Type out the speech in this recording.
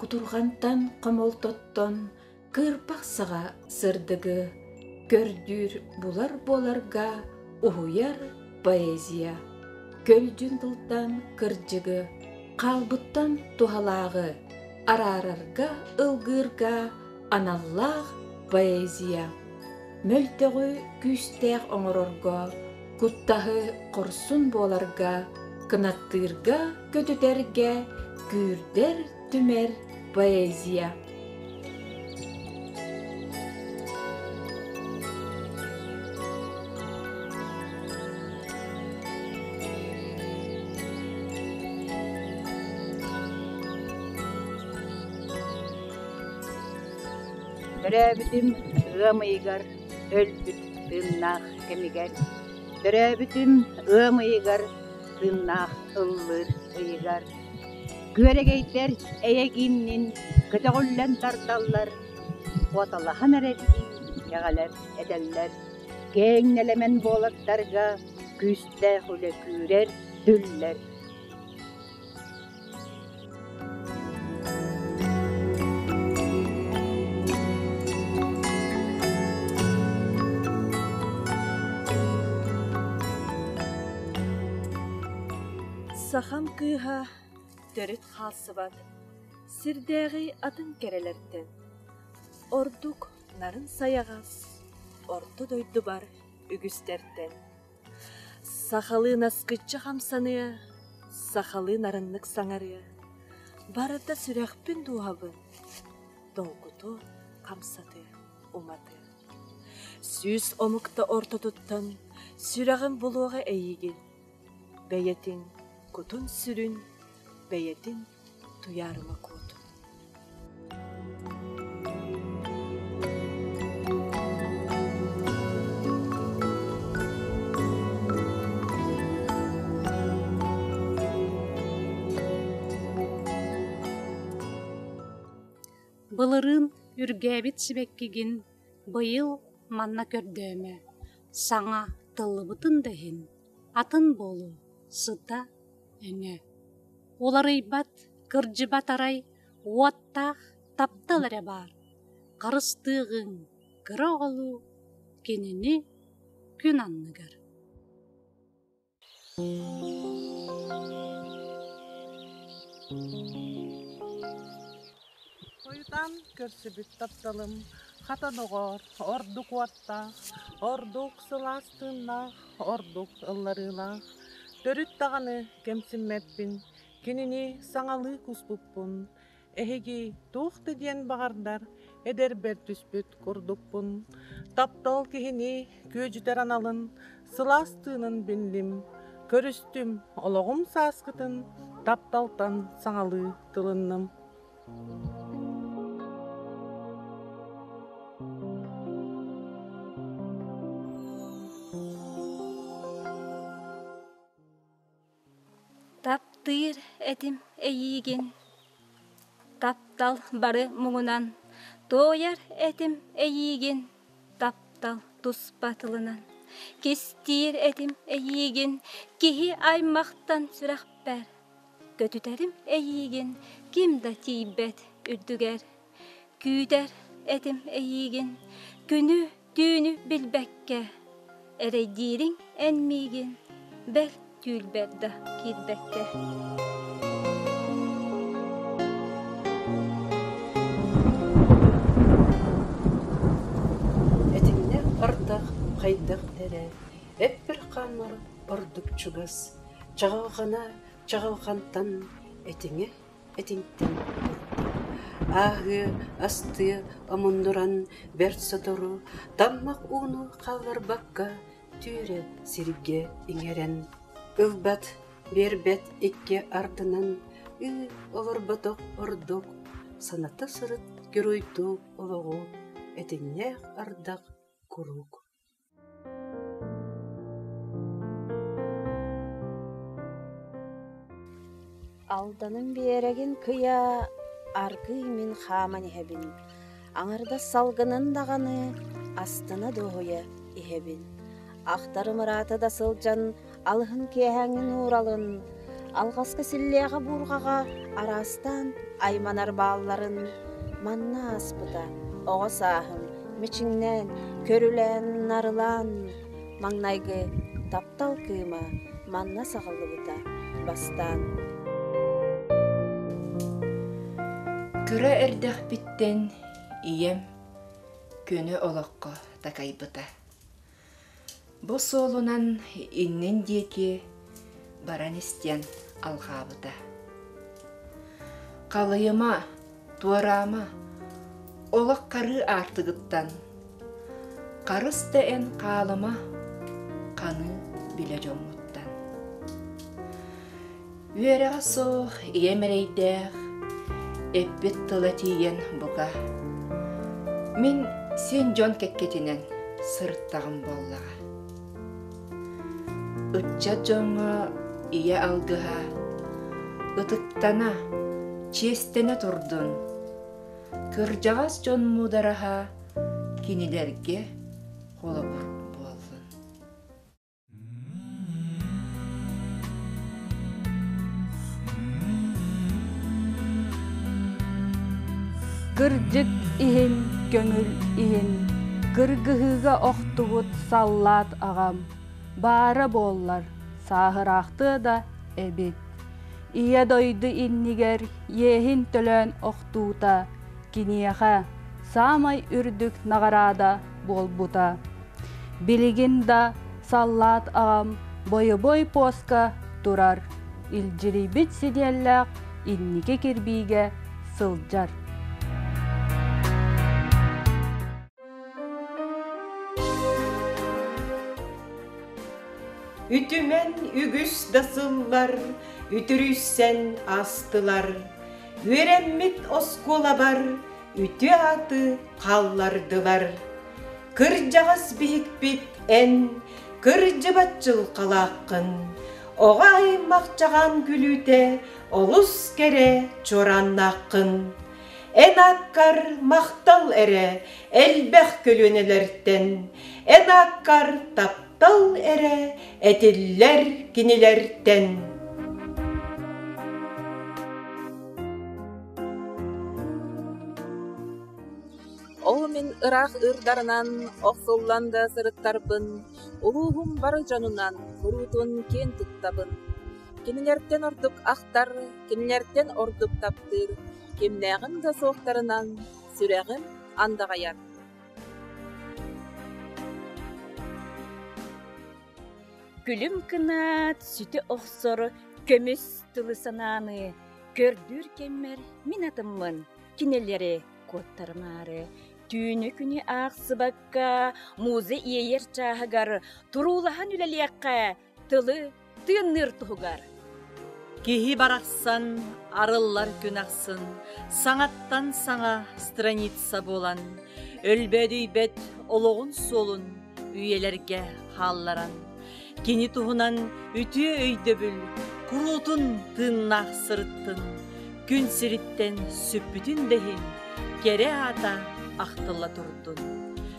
кутурҕантан хомолтоттон кыырпахсаҕа сырдыгы көрдүүр булар буоларга уһуйар поэзия көлдьүн тылтан кырдьыгы хаалбыттан туһалааҕы араарарга ылгыырга аналлаах поэзия мөлтөҕү күүстээх оҥорорго куттаһы хорсун буоларга кынаттыырга көтүтэргэ күүрдэр түмэр поэзия Төрөөбүтүм ыам ыйыгар өлбүт тыыннаах кэмигэр, төрөөбүтүм ыам ыйыгар тыыннаах ыллыыр ыйыгар, күөрэгэйдэр эйэ-гииннин көтөҕүллэн тардаллар, куоталаһан эрэрдии кэҕэлэр этэллэр, кээҥ нэлэмэн буолардарга күүстээх үлэ күүрэр, түллэр. Сахам кыыһа төрүт хаалсыбат сирдээҕи атын кэрэлэртэн ордук нарын сайаҕас орто дойдубар үгүстэртэн Сахалыы наскыччы хамсаныа, сахалыы нарыннык саҥарыа, барыта сүрэхпин дууһабын долгуту хамсатыа, уматыа. Сүүс омукта ортотуттан сүрэҕин булуоҕа эйигин, бэйэтин кутун-сүрүн, бэйэтин Туйаарыма куот Былырыын үргээбит сибэккигин быйыл манна көрдөөмө, саҥа тыллыбытын да иһин, атын буолуо, сыта Уларыйбат, кырдьыбат арай уоттаах таптал эрэ баар, харыстыаҕыҥ кыра оҕолуу кинини күн анныгар Тыыннаах, ордук сылаас тыыннаах, ордук ылларыылаах. Төрүт даҕаны кэмсиммэппин, кинини саҥалыы куспуппун. Эһиги туох да диэн баҕардар эдэрбэр түспүт курдукпун. Таптал киһини күөдьүтэр аналын, сылаас тыынын биллим. Көрүстүм олоҕум сааскытын, тапталтан саҥалыы тылынным. Таптыыр этим эйиигин, таптал бары муҥунан, Туойар этим эйиигин, таптал туспа тылынан. Кистиир этим эйиигин, киһи аймахтан сүрэхпэр, Көтүтэрим эйиигин ким да тиийбэт үрдүгэр. Күүтэр этим эйиигин күнү түүнү билбэккэ. Эрэйдиириҥ эн миигин бэрт түүлбэр да киирбэккэ. Этиҥнээх ардах хайдах эрэ, эппир хаамар ордук чугас. Чаҕылҕана чаҕылҕантан этиҥэ этиҥтэн ыытта, ааһыа, астыа омуннуран бэрт сотору таммах ууну хаалларбакка түөрэ сиргэ иҥэрэн ылбат биэрбэт икки ардынан ыы олорботох ордук саната сырыт геройдук олоҕу этиҥнээх ардах куруук Алданын биэрэгин кыйа аргыый мин хааман иһэбин, аҥардас салгынын даҕаны астына дуоһуйа иһэбин. Ахтарым ыраата да сылдьан алыһын киэһээҥҥин ууралын, алҕаска силлиэҕэ-буурҕаҕа араастаан айманар баалларын манна ааспыта, оҕо сааһым мичиҥнээн, көрүлээн, нарылаан, маҥнайгы таптал кыыма манна саҕыллыбыта бастаан. Кыра эрдэхпиттэн ийэм көнө олоххо такайбыта. Бу суолунан иннин диэки баран истиэн алҕаабыта. Халыйыма, туораама, олох харыы аартыгыттан харыс да эн хаалыма, ханыы билэ дьоммуттан. Үөрэҕэ суох ийэм эрэйдээх, эппит тыла тиийэн бука. Мин син дьон кэккэтинэн сырыттаҕым буоллаҕа. Ыччат дьоҥҥо ийэ алгыһа ытыктана, чиэстэнэ турдун. Кырдьаҕас дьон муудараһа кинилэргэ холобур буоллун. Кырдьык иһин көҥүл иһин кыргыһыыга охтубут саллаат аҕам баара буоллар сааһыраахтыа да эбит. Ийэ дойду иннигэр иэһин төлөөн охтуута киниэхэ саамай үрдүк наҕараада буолбута. Билигин да саллаат аҕам бойобуой пуоска турар, илдьирийбит сидиэллээх инники кирбиигэ сылдьар. Үтүмэн үгүс да сыллар үтүрүйсэн астылар. Үөрэммит оскуолабар үтүө-ааты хааллардылар. Кырдьаҕас биһикпит эн кырдьыбат дьылҕалааххын, оҕо аймахчаҕаан күлүүтэ олус кэрэ чуорааннааххын. Эн ааккар махтал эрэ элбэх көлүөнэлэртэн, эн ааккар тап Таптал эрэ этиллэр кинилэртэн Ол мин ыраах ырдарынан охсуллан да сырыттарбын, улууһум бары дьонунан куруутун киэн туттабын. Кинилэртэн ордук ахтар, кинилэртэн ордук таптыыр, кимнээҕин да суохтарынан сүрэҕим андаҕайар. Күлүм кынаат сүтэ охсор көмүс тылы санааны көрдүүр кэммэр мин атыммын кинилэри куоттарымаары түүнү-күнү аахсыбакка муза иэйэр чааһыгар туруулаһан үлэлиэххэ тылы тыынныыр туһугар. Киһи барахсан арыллар күн ахсын саҥаттан саҥа страница буолан өлбөөдүйбэт олоҕун суолун үйэлэргэ хаалларан кини туһунан үтүө өйдөбүл куруутун тыыннаах сырыттын күн сириттэн сүппүтүн да иһин кэрэ аата ахтылла турдун